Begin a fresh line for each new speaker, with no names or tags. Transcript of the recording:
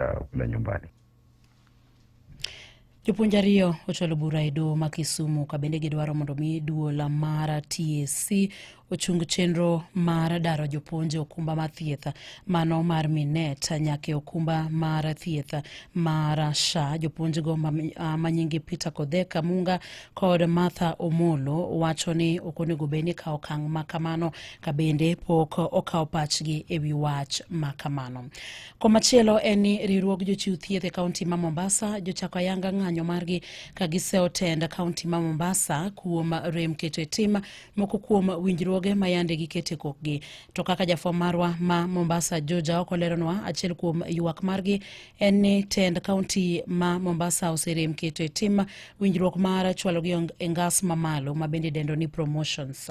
uh, kule nyumbani.
Jopuonj ariyo ochwalo bura e doho ma Kisumu ka bende gidwaro mondo mi duola mara TSC ochung chenro mar daro jopuonj okumba mar thieth mano mar minet nyaka e okumba mar thieth mar sha jopuonjgo manyingi peter kodheka munga kod martha omolo wacho ni ok onego bed ni kawo okang' ma kamano ka bende pok okawo pachgi e wi wach ma kamano Komachielo en ni riwruog jochiw thieth e kaunti ma Mombasa jochako ayanga ng'anyo margi ka gisewo tend kaunti ma Mombasa kuom rem keto e tim moko kuom winjruoge ma yande gikete kokgi. To kaka jafwambo marwa ma Mombasa Juja ok oleronwa, achiel kuom ywak margi en ni tend kaunti ma Mombasa oserem keto e tim winjruok mar chwalogi e ngas mamalo ma bende idendo ni promotions.